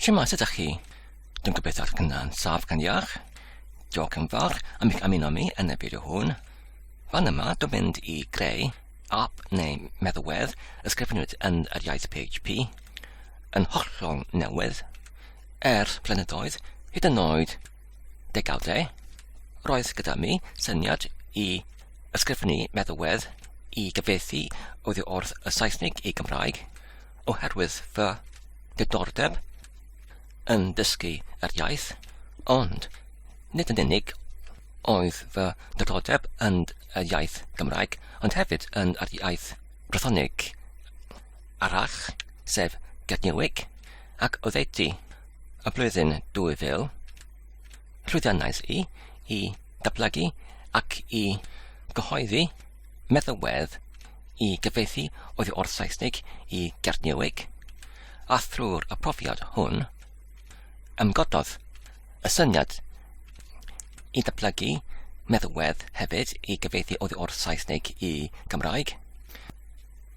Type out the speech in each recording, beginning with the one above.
Lle mas ydych chi? Dwi'n gobeithio eich cynna'n saf gan iach. Diolch yn fawr am eich ymuno mi yn y fideo hwn. Fan yma, dwi'n mynd i greu app neu meddalwedd ysgrifenwyd yn yr iaith PHP yn hollol newydd. Er blynyddoedd, hyd yn oed degawdau, roedd gyda mi syniad i ysgrifennu meddalwedd i gyfeithi oddi wrth y Saesnig i Gymraeg, oherwydd fy diddordeb yn dysgu yr iaith, ond nid yn unig oedd fy diddordeb yn y iaith Gymraeg, ond hefyd yn yr iaith Brythonig arall, sef Gerdnewic, ac oddeutu y blwyddyn 2000, llwyddiannais i i ddatblygu ac i gyhoeddi meddalwedd i gyfieithu oddi wrth Saesneg i Gernyweg, a thrwy'r y profiad hwn, ymgododd y syniad i ddatblygu meddalwedd hefyd i gyfieithu oddi wrth Saesneg i Gymraeg,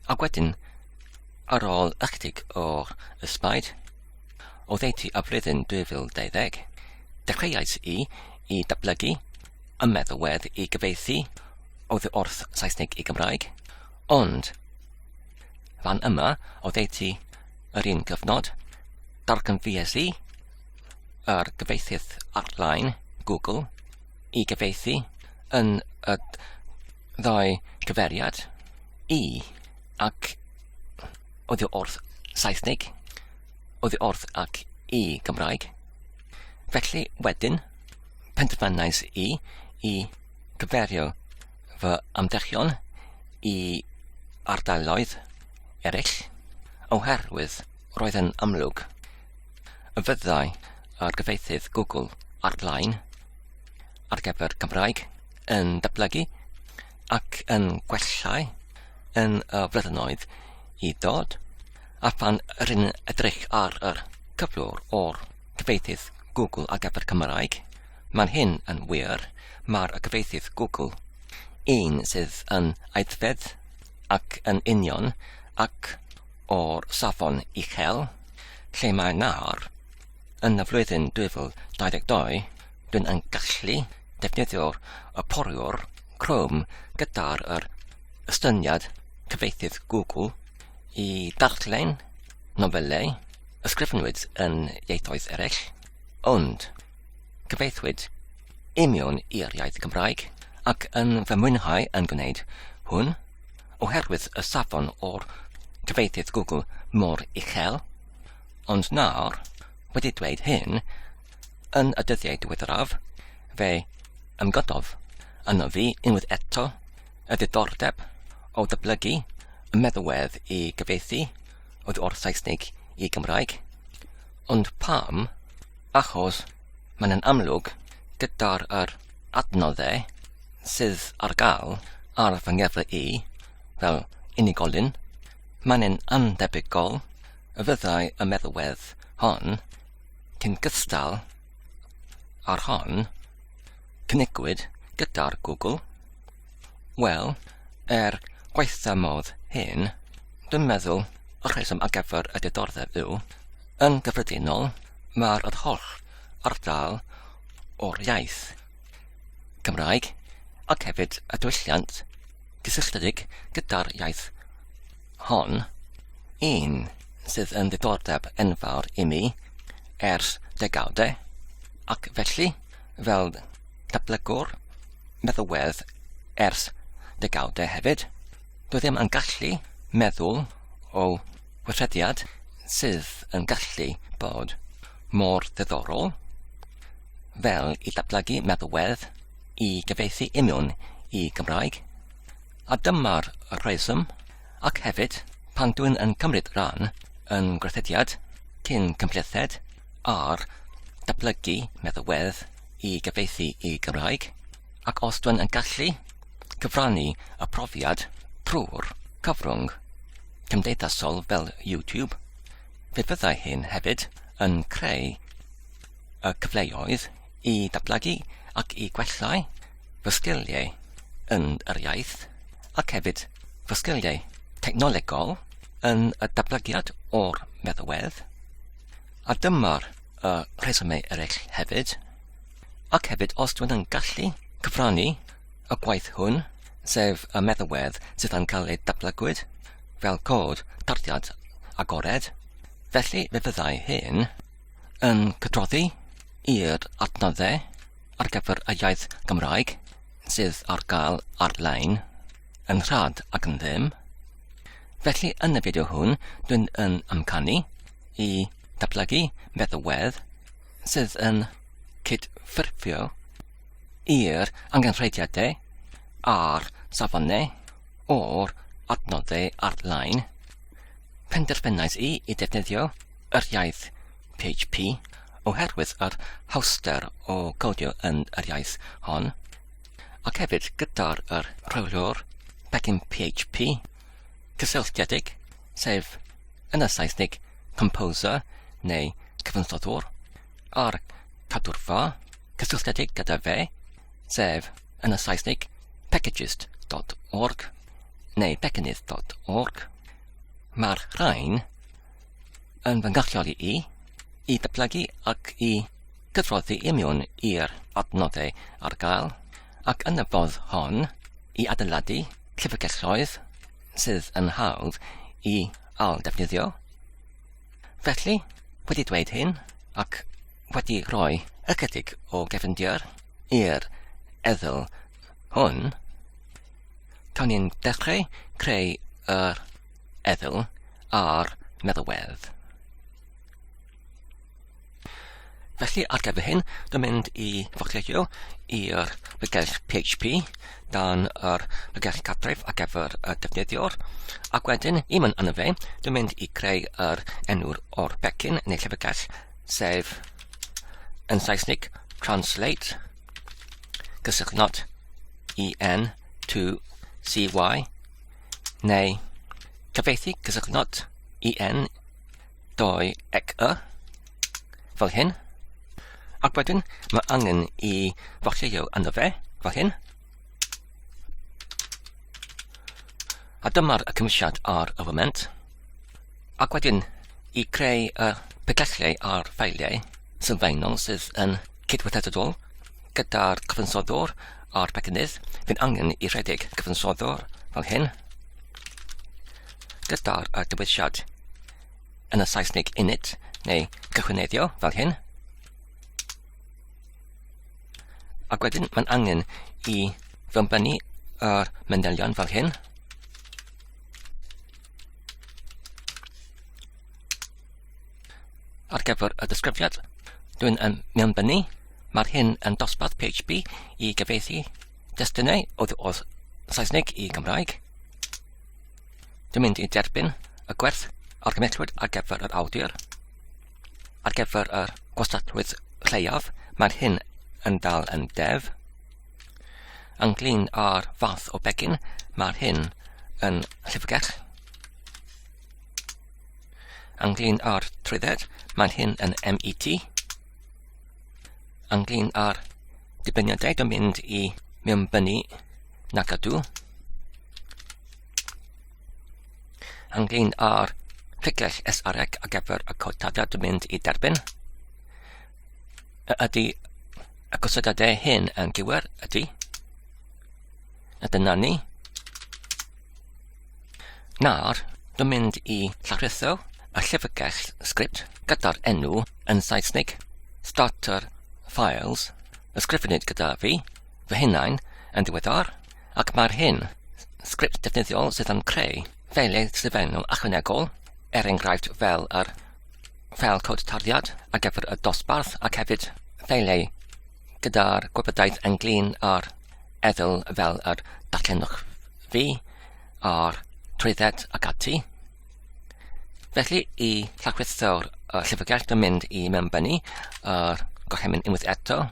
a wedyn, ar ôl ychydig o'r ysbaid, o ddeutu y flwyddyn 2020, dechreuais i i datblygu y meddalwedd i gyfeithi oddi wrth Saesneg i Gymraeg, ond fan yma oddeutu yr un gyfnod, darganfues i yr gyfeithydd ar-lein, Google, i gyfeithi yn y ddau gyferiad, i ac oddi wrth Saesneg, oddi wrth ac i Gymraeg. Felly, wedyn, penderfynais i i gyfeirio fy ymdrechion i ardaloedd eraill, oherwydd roedd yn amlwg y fyddai argyfeitydd Google ar-lein ar gyfer Cymraeg yn datblygu ac yn gwellhau yn y flynyddoedd i ddod, a phan ry'n edrych ar yr cyflwr o'r cyfieithydd Google ar gyfer Cymraeg, mae'n hyn yn wir, mae'r y cyfieithydd Google, un sydd yn aeddfed ac yn union ac o'r safon uchel, lle mae nawr, yn y flwyddyn 2022, dwi'n yn gallu defnyddio'r y poriwr Chrome gyda'r yr ystyniad cyfieithydd Google i darllen Nofelau ysgrifennwyd yn ieithoedd eraill, ond cyfieithwyd i mewn i'r iaith Gymraeg, ac yn fy mwynhau yn gwneud hwn, oherwydd y safon o'r cyfieithydd Google mor uchel, ond nawr, wedi dweud hyn, yn y dyddiau diweddaraf, fe ymgododd arno fi unwaith eto Y diddordeb o ddyblygu y meddalwedd i gyfieithu oedd o'r Saesneg i Gymraeg. Ond pam? Achos mae'n yn amlwg gyda'r yr adnoddau sydd ar gael ar fy ngefle i fel unigolyn, mae'n yn andebygol y fyddai y meddalwedd hon cyn gystal â'r hon cynigwyd gyda'r Google? Wel, er gwaetha modd hyn, dwi'n meddwl y rheswm ar gyfer y diddordeb yw, yn gyffredinol, mae'r yr holl ardal o'r iaith Cymraeg ac hefyd y diwylliant gysylltiedig gyda'r iaith hon, un sydd yn ddiddordeb enfawr i mi ers degawdau, ac felly fel datblygwr meddywedd ers degawdau hefyd. Doedd ddim yn gallu meddwl o weithrediad sydd yn gallu bod mor ddiddorol fel i datblygu meddywedd i gyfeithi union i Gymraeg, a dyma'r rheswm ac hefyd pan dwi'n yn cymryd rhan yn gwerthediad cyn cymhlethed ar datblygu meddalwedd i gyfieithu i Gymraeg, ac os dwn yn gallu cyfrannu y profiad trwy'r cyfrwng cymdeithasol fel YouTube, fe fyddai hyn hefyd yn creu y cyfleoedd i ddatblygu ac i gwella'u fy sgiliau yn yr iaith ac hefyd fy sgiliau technolegol yn y datblygiad o'r meddalwedd. A dyma'r uh, rhesymau eraill hefyd. Ac hefyd, os dwi'n yn gallu cyfrannu y gwaith hwn, sef y meddalwedd sydd yn cael ei dablygwyd fel cod tarddiad agored, felly fe fyddai hyn yn cydroddi i'r adnoddau ar gyfer y iaith Gymraeg sydd ar gael ar-lein. yn rhad ac yn ddim. Felly yn y fideo hwn, dwi'n yn amcanu i datblygu meddalwedd sydd yn cydffurfio i'r angenrheidiadau a'r safonau o'r adnoddau ar-lein. Penderfynais i i defnyddio yr iaith PHP oherwydd yr hawster o codio yn yr iaith hon. ac hefyd gyda'r yr rheolwr pecyn PHP cysylltiedig, sef yn y Saesnig composer neu cyfansoddwr, a'r cadwrfa cysylltiedig gyda fe, sef yn y Saesnig packages.org neu pecynnydd.org. Mae'r rhain yn fy ngalluogi i i datblygu ac i gydroddi i mewn i'r adnoddau ar gael, ac yn y fodd hon i adeiladu llyfrgelloedd sydd yn hawdd i ail-ddefnyddio. Felly, wedi dweud hyn ac wedi rhoi ychydig o gefndir i'r eddyl hwn, cawn ni'n dechrau creu yr Ethel a'r meddalwedd. Felly ar gyfer hyn, dwi'n mynd i focleisio i'r bygell PHP dan yr bygell cartref ar gyfer y defnyddiwr, ac wedyn, i mynd yna fe, dwi'n mynd i creu yr enw'r o'r becyn neu llyfrgell, sef yn Saesnig translate, gysylltnod en to cy neu cyfieithu cysylltnod EN doi ec y fel hyn ac wedyn mae angen i fochio yno fe fel hyn a dyma'r cymwysiad ar y foment Ac wedyn, i creu y pegelliau a'r ffeiliau sylfaenol sydd yn cydweithredol gyda'r cyfansoddwr a'r pecynnydd, fi'n angen i rhedeg cyfansoddwr fel hyn gyda'r dywediad yn y Saesneg init neu cychwyneddio fel hyn. Ac wedyn mae'n angen i fy ymbennu yr manylion fel hyn. Ar gyfer y disgrifiad, dwi'n yn mewnbynnu, mae'r hyn yn dosbarth PHP i gyfeithi destunau oedd o'r Saesneg i Gymraeg. Dwi'n mynd i derbyn y gwerth ar gymetrwyd ar gyfer yr awdur. Ar gyfer yr gwastatwydd lleiaf, mae'r hyn yn dal yn def. Ynglyn â'r fath o begin, mae'r hyn yn llifgell. Ynglyn â'r trwydded, mae'n hyn yn MET. Ynglyn â'r dibyniadau yn mynd i mewnbynnu na gadw. Ynglyn â'r llygrell SREC ar gyfer y cotadau yn mynd i derbyn. ydy y gosedadau hyn yn gywir, ydy. A dyna ni. Nawr, dwi'n mynd i llawrytho y llyfrgell sgript gyda'r enw yn Saesnig, Starter Files, y sgrifenid gyda fi, fy hunain, yn diweddar, ac mae'r hyn, sgript defnyddiol sydd yn creu, fel ei sgrifennu achwanegol, er enghraifft fel yr fel cod tarddiad ar gyfer y dosbarth ac hefyd ffeiliau gyda'r gwybodaeth ynglyn â'r eddyl fel yr datlenwch fi a'r trwydded ac ati. Felly i llachwithio'r uh, llyfrgell dwi'n mynd i mewn bennu a'r uh, gorchymyn unwaith eto.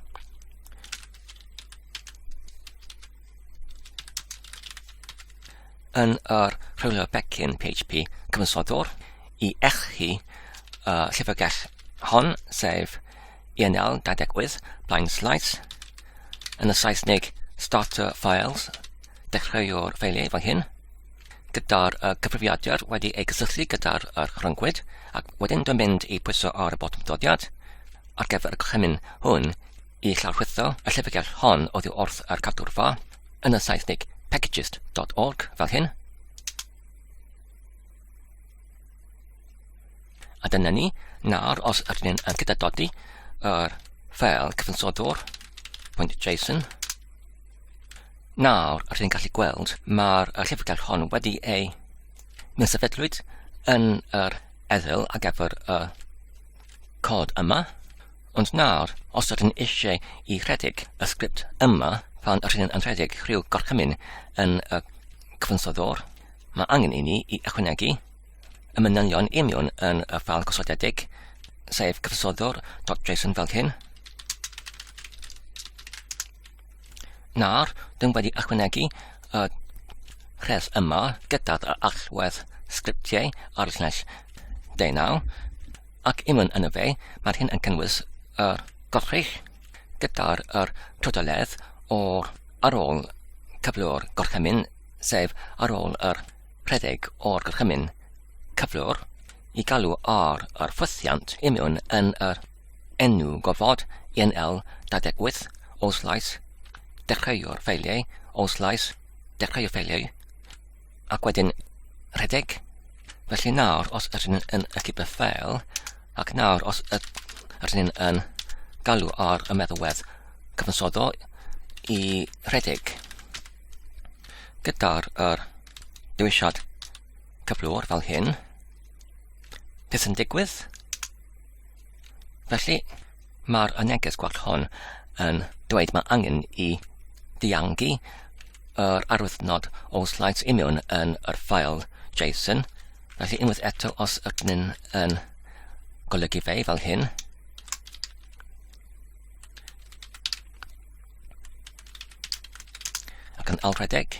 yn yr rhwylio becyn PHP cyfansodwr i eich hi y llyfrgell hon, sef ENL 28, Blind Slides, yn y Saesneg Starter Files, dechreuwr ffeiliau fan hyn, gyda'r uh, cyfrifiadur wedi ei gysylltu gyda'r uh, rhyngwyd ac wedyn dwi'n mynd i pwyso ar y botwm dodiad ar gyfer y gorchymyn hwn i lawrlwytho y llyfrgell hon oddi wrth ar cadw'r fa, yn y Saesnig packages.org fel hyn. A dyna ni, nawr os ydyn ni'n yn gyda dodi yr ffel cyfansoddwr, pwynt JSON, nawr rydyn ni'n gallu gweld mae'r llyfrgell hon wedi ei mewn sefydlwyd yn yr eddyl a gefr y cod yma. Ond nawr, os ydyn eisiau i rhedeg y sgript yma pan rydyn yn rhedeg rhyw gorchymyn yn y cyfansoddwr, mae angen i ni i ychwanegu y manylion imiwn yn y ffal gosodedig, sef cyfansoddwr.json fel hyn. Nawr, dwi'n wedi ychwanegu y rhes yma gyda'r allwedd sgriptiau ar llais deunaw, ac unwaith yn y fe, mae'r hyn yn cynnwys yr gorchych gyda'r yr trodoledd o'r ar ôl cyflwr gorchymyn, sef ar ôl yr rhedeg o'r gorchymyn cyflwr i galw ar yr ffwythiant imiwn yn yr Enw gofod ENL 28 Old Slice Dechreuo'r ffeiliau Old Slice Dechreuo'r ffeiliau ac wedyn rhedeg Felly nawr os ydyn nhw'n yn y cyber ffeil ac nawr os ydyn nhw'n yn galw ar y meddalwedd cyfansoddol i rhedeg gyda'r er, dewisiad cyflwr fel hyn beth yn digwydd Felly, mae'r y neges gwell hon yn dweud mae angen i ddiangu yr arwythnod o slides union yn yr ffael JSON. Felly unwaith eto, os ydyn ni'n yn golygu fe fel hyn, ac yn alredeg,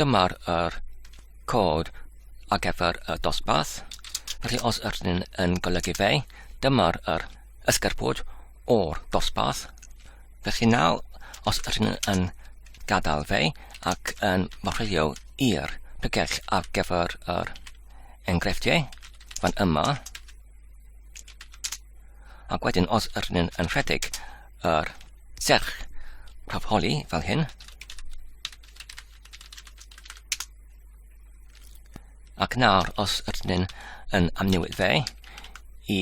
Dyma'r er cod ar gyfer y dosbarth. Felly os ydych chi'n yn golygu fe, dyma'r er ysgerbwyd o'r dosbarth. Felly nawr, os ydych chi'n yn gadael fe ac yn marchio i'r pregell ar gyfer yr enghreifftiau fan yma, ac wedyn os ydych chi'n yn rhedeg Yr serch prawf holi fel hyn. Ac nawr, os ydyn ni'n yn amnewid fe i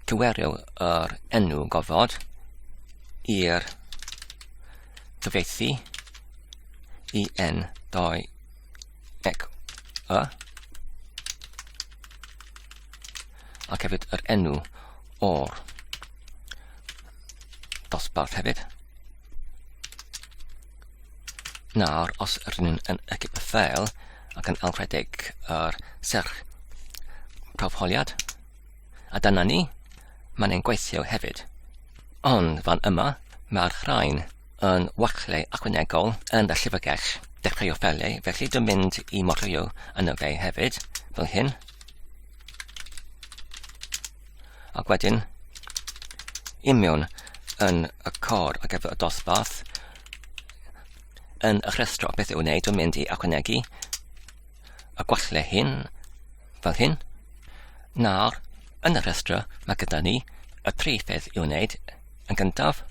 cywerio yr enw gofod i'r cyfeithi i n 2 ec y ac hefyd yr enw o'r dosbarth hefyd. Nawr, os rydyn ni'n yn y ffeil ac yn alwredig yr serch prawfholiad, a dyna ni, mae'n ein gweithio hefyd. Ond fan yma, mae'r rhain yn wachleu achwanegol yn y llyfrgell. Dechreuo ffeiliau, felly dwi'n mynd i modrwyo yn y fe hefyd, fel hyn. Ac wedyn, i mewn yn y cor ar gyfer y dosbarth, yn y rhestro beth i'w wneud, dwi'n mynd i ychwanegu y gwalle hyn, fel hyn. Nawr, yn y rhestro, mae gyda ni y tri pheth i'w wneud. Yn gyntaf,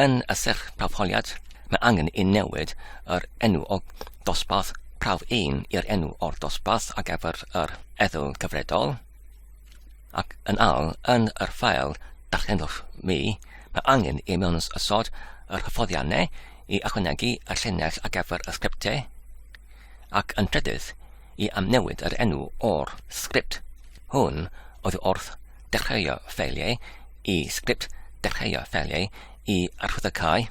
Yn y syrffafoliad, mae angen i newid yr enw o Dosbarth Prawf 1 i'r enw o'r dosbarth ar gyfer yr Ethol Cyfredol, ac yn al yn yr ffael darllenwch mi, mae angen i mewn ysod yr hyfforddiannau i ychwanegu y llinell ar gyfer y sgriptiau. ac yn trydydd i amnewid yr enw o'r sgript. Hwn oedd wrth ddechreuo ffeiliau i sgript dechreuo ffeiliau i archwyddocae.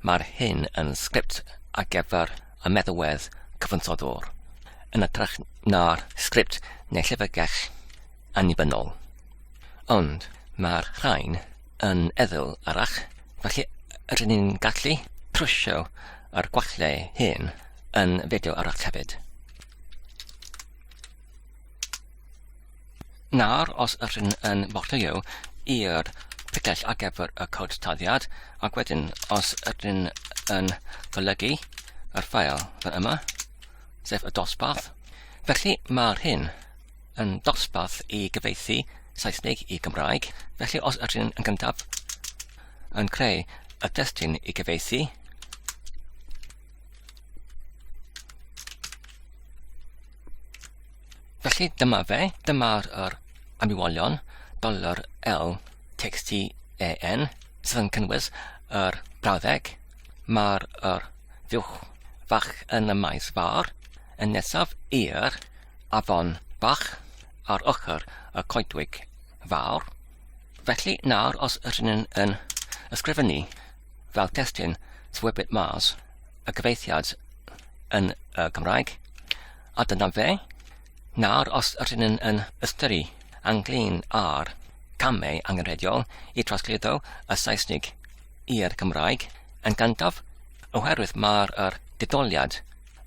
Mae'r hyn yn sgript ar gyfer y meddalwedd cyfansoddwr, yn ytrach na'r sgript neu llyfrgell annibynnol. Ond mae'r rhain yn feddwl arall, felly rydyn ni'n gallu trwsio ar gwallau hyn yn fideo arall hefyd. Nawr, os rydyn yn bortio i'r picell ar gyfer y cod taddiad, ac wedyn os rydyn yn golygu yr ffael fan yma, sef y dosbarth, felly mae'r hyn yn dosbarth i gyfeithi Saesneg i Gymraeg, felly os ydych chi'n yn gyntaf yn creu y testyn i gyfeithi, felly dyma fe, dyma'r er amywolion dollar L text EN sydd yn cynnwys yr brawddeg, mae'r er fuwch fach yn y maes fawr, yn nesaf i'r afon bach ar ochr y coedwig fawr. Felly nawr os ydyn ni'n yn ysgrifennu fel testyn Swybyt Mars y gyfeithiad yn y Gymraeg, a dyna fe. Nawr os ydyn ni'n yn ystyru anglyn ar camau angenrheidiol i drosglwyddo y Saesnig i'r Gymraeg yn gandaf, oherwydd mae'r er didoliad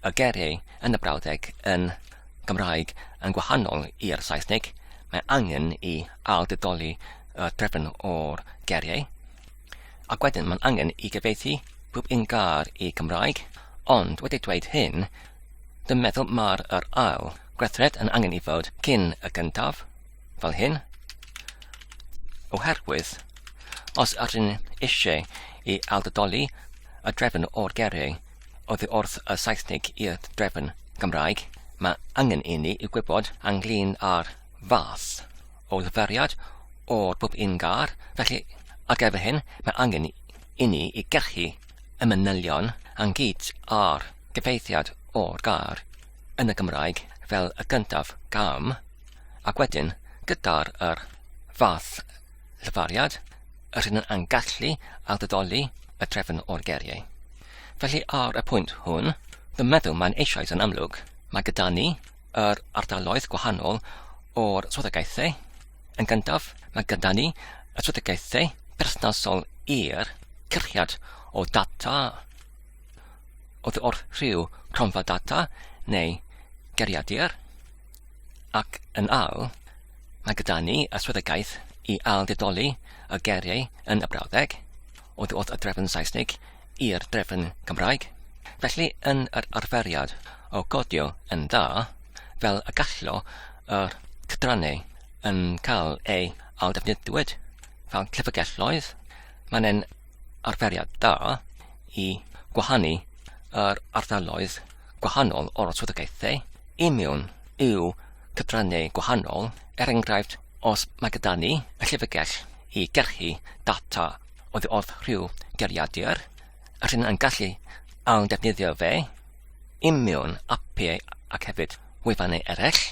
y geiriau yn y brawddeg yn Gymraeg yn gwahanol i'r Saesneg, mae angen i ailddidoli y drefn o'r geiriau, ac wedyn mae'n angen i gyfeithi pob un gair i Gymraeg, ond wedi dweud hyn, dwi'n meddwl mae'r yr ail gweithred yn angen i fod cyn y gyntaf, fel hyn, oherwydd os ydyn eisiau i ailddidoli y drefn o'r geiriau, Oddi wrth y Saesnig i'r drefn Gymraeg, mae angen i ni gwybod ynglŷn â'r fath o liferiad o'r bwp yn gar, felly ar gyfer hyn mae angen i ni i gyrchu y manylion ynghyd â'r gyfeithiad o'r gair yn y Gymraeg fel y gyntaf gam, ac wedyn gyda'r yr fath Llefariad, yr hyn a'n gallu ar ddidoli y drefn o'r geriau. Felly ar y pwynt hwn, dwi'n meddwl mae'n eisoes yn amlwg. Mae gyda ni yr ardaloedd gwahanol o'r swyddogaethau. Yn gyntaf, mae gyda ni y swyddogaethau perthnasol i'r cyrchiad o data oedd o'r rhyw cronfa data neu geriadur ac yn ail, Mae gyda ni yswyddogaeth i ailddedoli y geiriau yn y brawddeg, oddi wrth y drefn Saesnig i'r drefn Cymraeg. Felly, yn yr arferiad o godio yn dda, fel y gallo yr cydrannau yn cael ei ailddefnyddiwyd fel llyfrgelloedd, mae'n e'n arferiad da i gwahanu yr ardaloedd gwahanol o'r swyddogaethau i mewn i'w cyfrannau gwahanol, er enghraifft os mae gyda ni y llyfrgell i gyrchu data oddi wrth rhyw geiriadur, rydyn yn gallu ail ddefnyddio fe i mewn apiau ac hefyd wefannau eraill,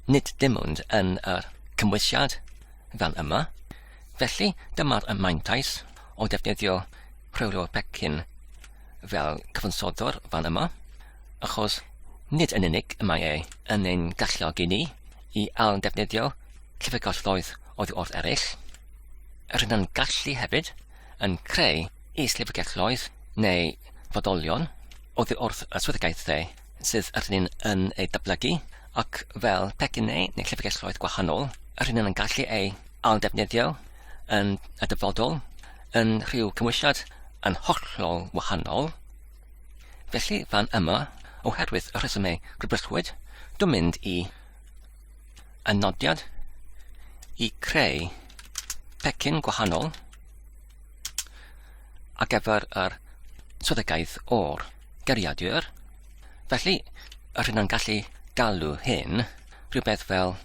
nid dim ond yn yr cymwysiad fel yma. Felly dyma'r mantais o ddefnyddio rheolwr pecyn fel cyfansoddwr fan yma, achos nid yn unig y mae e yn ein galluogi ni i ailddefnyddio llyfrgelloedd oddi wrth eraill, yr hyn a'n gallu hefyd yn creu is-lyfrgelloedd neu fodolion oddi wrth y swyddogaethau sydd yr hyn yn ei datblygu, ac fel pecynnau neu llyfrgelloedd gwahanol, yr hyn yn gallu ei ailddefnyddio yn y dyfodol yn rhyw cymwysiad yn hollol wahanol. Felly fan yma, oherwydd y rhesymau gwybryllwyd, dwi'n mynd i y nodiad i creu pecyn gwahanol ar gyfer yr swyddogaeth o'r gariadur. Felly, yr hyn o'n gallu galw hyn, rhywbeth fel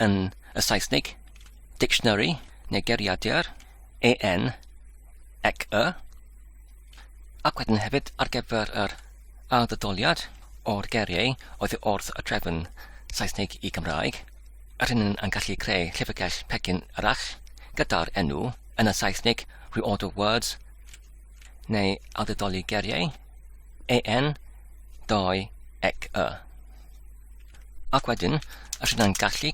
yn y Saesneg, dictionary neu gariadur, EN, ec y, ac wedyn hefyd ar gyfer yr ailddydoliad o'r geriau oedd wrth y drefn Saesneg i Gymraeg, yr hyn yn gallu creu llyfrgell pecyn arall gyda'r enw yn y Saesnig reorder words neu awdurdoli geriau, en, doi, ec, y. Ac wedyn, os yna'n gallu,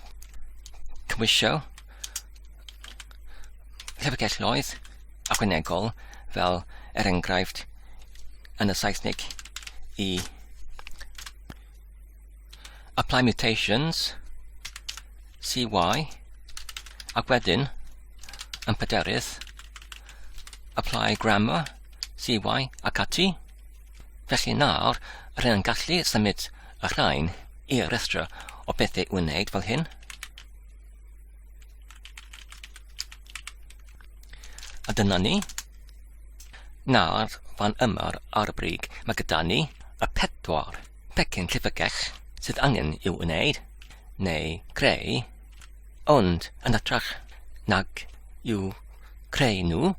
cymwysio llyfrgelloedd ychwanegol fel er enghraifft yn y Saesnig i apply mutations, CY, ac wedyn, yn pederydd, apply grammar, CY, ac ati. Felly nawr, rydyn yn gallu symud y rhain i restr o bethau i'w wneud fel hyn. A dyna ni. Nawr, fan yma ar y brig, mae gyda ni y pedwar. pecyn llyfrgell sydd angen i'w wneud neu greu, ond yn hytrach nag i'w creu nhw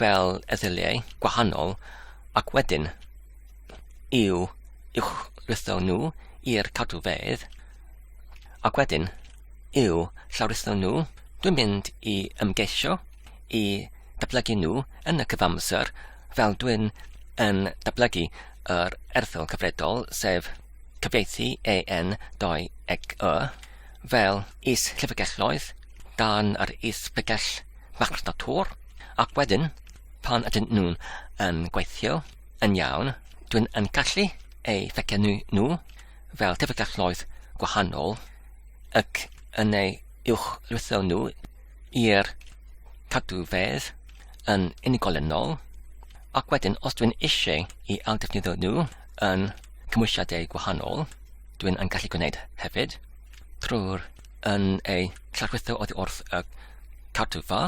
fel erthyliau gwahanol ac wedyn i'w uwchritho nhw i'r cadwfeydd ac wedyn i'w llawritho nhw, dwi'n mynd i ymgeisio i ddatblygu nhw yn y cyfamser fel dwi'n yn datblygu yr erthygl cyfredol, sef cyfieithu EN 2 eg Y, fel is-llyfrgelloedd dan yr is-bregell machnatŵr, ac wedyn, pan ydyn nhw'n yn gweithio yn iawn, dwi'n yn gallu eu fecenu nhw fel llyfrgelloedd gwahanol, ac yn eu uwchlwytho nhw i'r cadwfedd yn unigolynol ac wedyn os dwi'n eisiau i awdurdniddo nhw yn cymwysiadau gwahanol, dwi'n yn gallu gwneud hefyd trwy'r yn ei llarchwitho oddi wrth y cartwfa,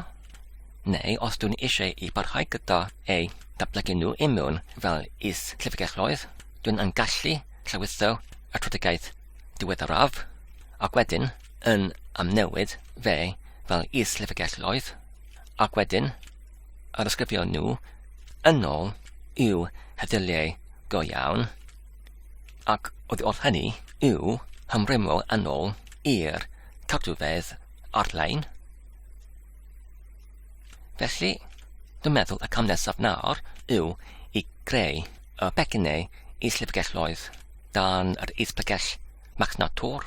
neu os dwi'n eisiau i barhau gyda ei datblygu nhw i mewn fel is llyfrgelloedd, dwi'n yn gallu llawitho y trwydigaeth diweddaraf, ac wedyn yn amnewid fe fel is-lyfrgelloedd, ac wedyn arysgrifio nhw yn ôl i'w heddilliau go iawn, ac oddi wrth hynny i'w hymrwymo yn ôl i'r cadwfedd ar-lein. Felly, dwi'n meddwl y cam nesaf nawr yw i greu y pecynnau is-lyfrgelloedd dan yr is-bregell marchnad tor.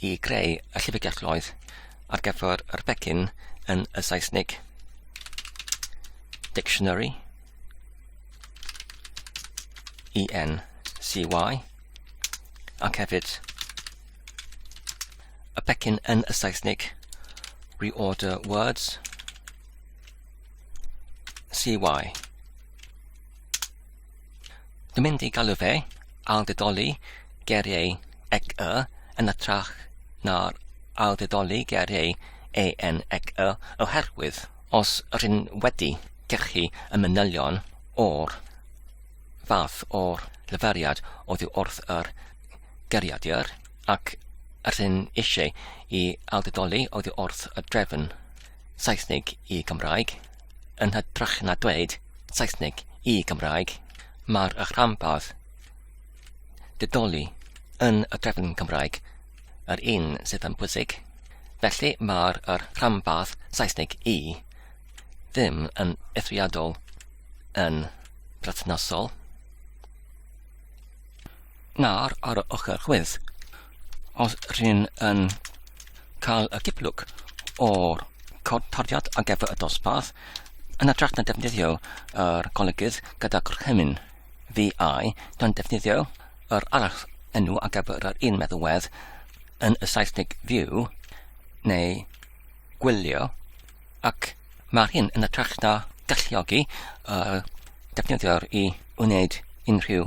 i greu y llyfrgelloedd ar gyfer yr pecyn yn y Saesnig. Dictionary ENCY ac hefyd y pecyn yn y Saesnig Reorder Words CY Dwi'n mynd i galw fe ailddedoli geiriau ec y yn ytrach na'r ailddedoli geiriau en ec y oherwydd os rydyn wedi cachu y manylion o'r fath o'r llyferiad oddi wrth yr geiriadur ac rydyn eisiau i ailddedoli oddi wrth y drefn Saesnig i Gymraeg, Yn hytrach na dweud Saesneg i Gymraeg, mae'r rhanbarth didoli yn y drefn Cymraeg yr un sydd yn bwysig. Felly mae'r rhanbarth Saesneg i ddim yn eithriadol yn perthnasol. Nawr ar y ochr chwith, Os rhyn yn cael y gyplwg o'r cod tarddiad ar gyfer y dosbarth, yn ytrach na defnyddio yr golygydd gyda gorchymyn VI, dan defnyddio yr arall enw ar gyfer yr un meddalwedd yn y Saesneg view neu gwylio ac mae'r hyn yn y trach na galluogi uh, defnyddio'r i wneud unrhyw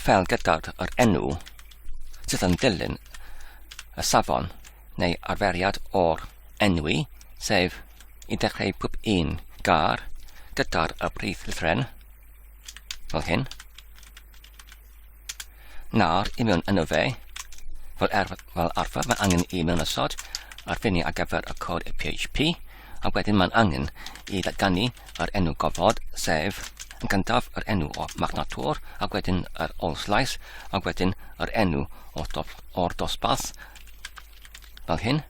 ffeil gydag yr enw sydd yn dilyn y safon neu arferiad o'r enwi, sef i dechrau pob un gar gyda'r y brif lythren, fel hyn, nawr i mewn yno fe, fel, er, fel arfer mae angen i mewn ysod ar ffiniau ar gyfer y cod PHP, A wedyn mae'n angen i ddatganu yr enw gofod, sef yn gyntaf yr enw o'r marchnatwr, a wedyn yr olslais, a wedyn yr enw o'r, do, or dosbarth, fel hyn.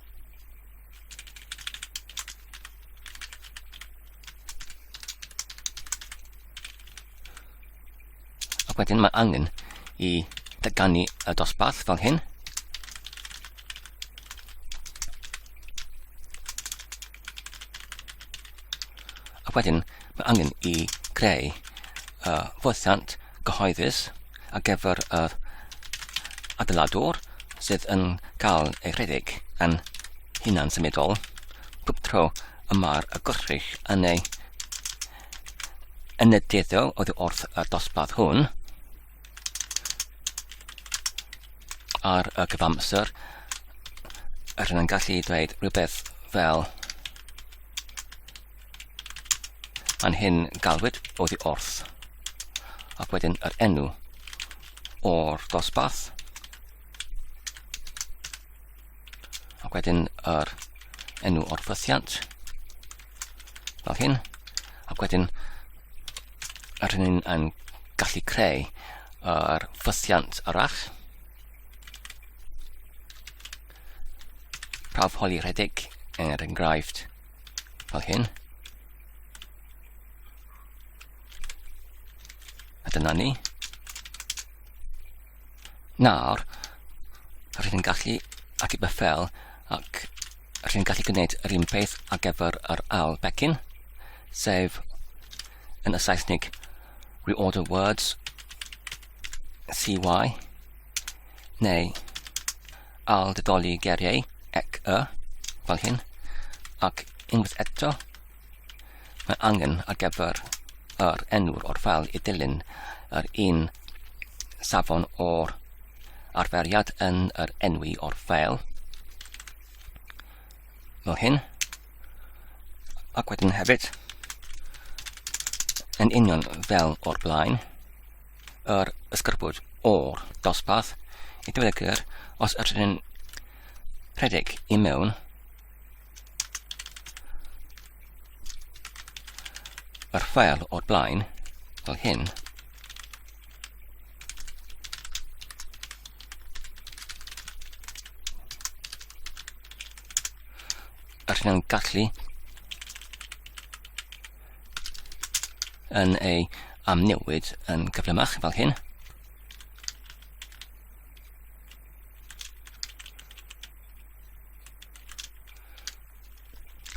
Ac wedyn mae angen i dyganu y dosbarth fel hyn. Ac wedyn mae angen i greu uh, fwthiant gyhoeddus ar gyfer y uh, adeiladwr sydd yn cael ei rhedeg yn hunan symudol. Pob tro y mae'r gwrthrych yn ei yn y dueddol oedd wrth y dosbarth hwn ar y cyfamser yr yn gallu dweud rhywbeth fel yn hyn galwyd oddi wrth ac wedyn yr enw o'r dosbarth Ac wedyn yr enw o'r fythiant. Fel hyn. Ac wedyn yr hynny'n yn gallu creu yr fythiant arall. Prawf holi rhedeg er enghraifft fel hyn. A dyna ni. Nawr, rydyn ni'n gallu ateb y ffel ac rydyn ni'n gallu gwneud yr un peth ar gyfer yr ail becyn, sef yn y Saesnig reorder words CY neu al dydoli geriau ec y fel hyn ac unwaith eto Mae angen ar gyfer yr enw'r o'r fel i dilyn yr un safon o'r arferiad yn yr enwi o'r fel. Fel hyn. Ac wedyn hefyd, yn union fel o'r blaen, yr ysgrifwyd o'r dosbarth i ddweud y gwir os ydyn rhedeg i mewn Mae'r ffeil o'r blaen, fel hyn, a rydyn nhw'n gallu yn ei amnewid yn gyflymach fel hyn.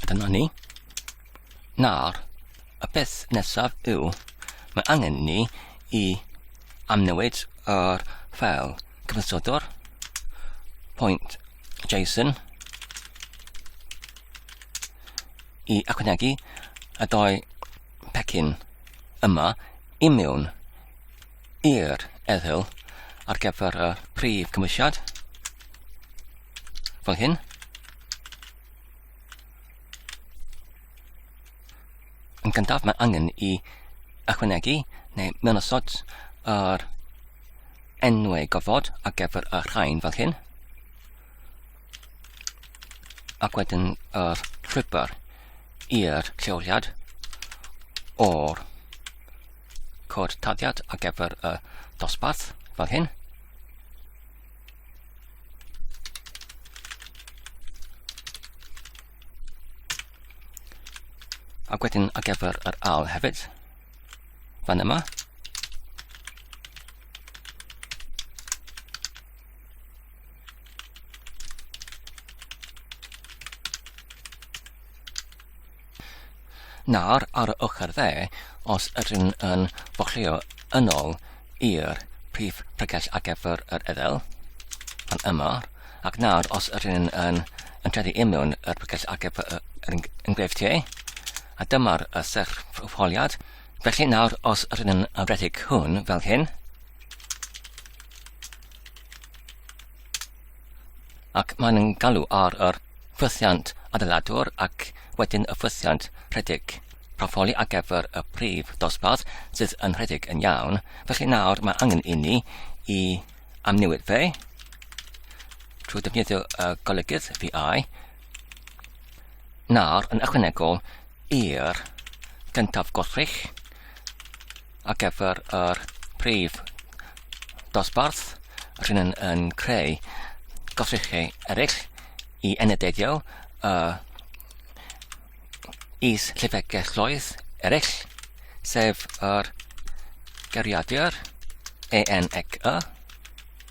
Dyna ni. Nawr, y peth nesaf yw, mae angen ni i amnewid yr ffeil cyfansodwr pwynt JSON i ychwanegu y dau pecyn yma i mewn i'r eddyl ar gyfer y prif cymwysiad, fel hyn. Yn gyntaf, mae angen i ychwanegu neu mynosod yr enwau gofod ar gyfer y rhain fel hyn. Ac wedyn yr llwybr i'r lleoliad o'r cod taddiad ar gyfer y dosbarth, fel hyn. Ac wedyn ar gyfer yr al hefyd, fan yma. Nawr, ar y ochr dde, os ydyn yn boclio yn ôl i'r prif bregell ar gyfer yr edel, fan yma, ac nawr os ydyn yn yn treddu i mewn yr bregell ar gyfer yr enghreifftiau, a dyma'r y serch holiad. Felly nawr, os ydyn yn redig hwn fel hyn, ac maen nhw'n galw ar yr ffwythiant adeiladwr ac wedyn y ffwythiant rhedeg proffoli ar gyfer y prif dosbarth sydd yn rhedeg yn iawn. Felly nawr mae angen i ni i amnewid fe trwy defnyddio y golygydd VI Nawr, yn ychwanegol i'r gyntaf gwrthrych ar gyfer yr prif dosbarth, rhywun yn, yn creu gwrthrychau eraill i enedeiddio uh, is llyfrgelloedd eraill, sef yr geriadur EN ac Y,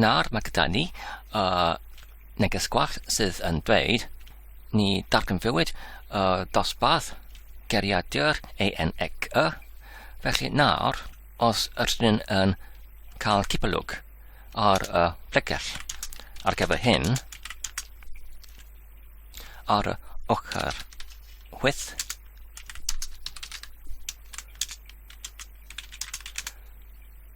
Nawr mae gyda ni uh, neges gwallt sydd yn dweud ni darganfuwyd uh, dosbarth geriadur ENEC y, felly nawr os ydyn ni'n yn cael cipolwg ar y uh, pregell ar gyfer hyn, ar y ochr chwyth,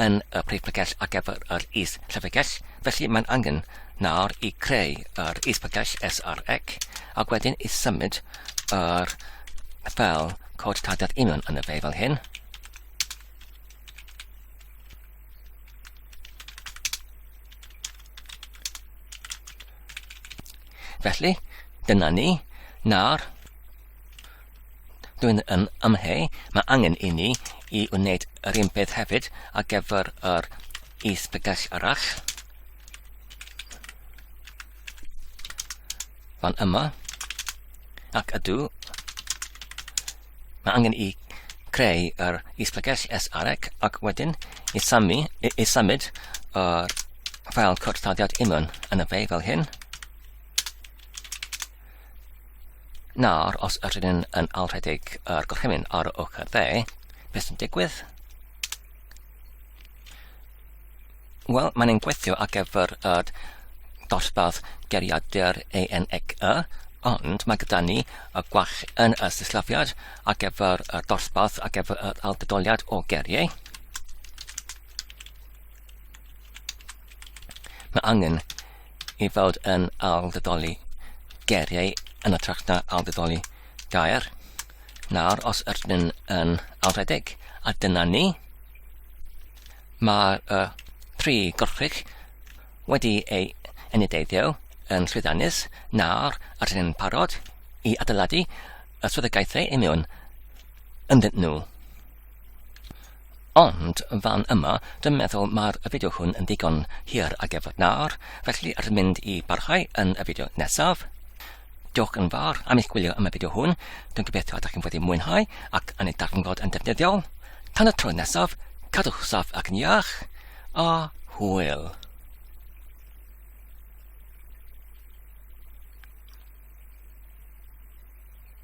yn y Prif Llyfrgell ar gyfer yr Is-Llyfrgell, felly mae'n angen nawr i creu yr Is-Llyfrgell SREC ac wedyn i symud yr fel cod tarddiad union yn y fe fel hyn. Felly, dyna ni. Nawr, Dwi'n yn amheu, mae angen i ni i wneud yr un peth hefyd ar gyfer yr is-bregell arall. Fan yma. Ac ydw. Mae angen i creu yr is-bregell SREC ac wedyn i, samu, i, i symud yr ffael cwrthdaliad imwn yn y fe fel hyn. Nawr, os ydyn ni'n yn alrhedeg yr gorchymyn ar y ochr dde, beth sy'n digwydd? Wel, mae'n ein gweithio ar gyfer y dosbarth geriadur ENEC, ond mae gyda ni y gwach yn y sillafiad ar gyfer y dosbarth ar gyfer yr algydoliad o geriau. Mae angen i fod yn ailddedoli geiriau yn y tract na ailddedoli gair. Nawr, os ydyn nhw'n yn alfredeg, a dyna ni, mae'r uh, tri gorchig wedi ei enideiddio yn llwyddiannus. Nawr, ydyn nhw'n parod i adeiladu y swyddogaethau i mewn ynddyn nhw. Ond fan yma, dwi'n meddwl mae'r fideo hwn yn ddigon hir a gefod nawr, felly rydyn mynd i barhau yn y fideo nesaf. Diolch yn fawr am eich gwylio am y fideo hwn, dwi'n gobeithio ydych chi'n wedi mwynhau ac yn ei darganfod yn defnyddiol. Tan y tro nesaf, cadwch saff ac yn iach, a hwyl!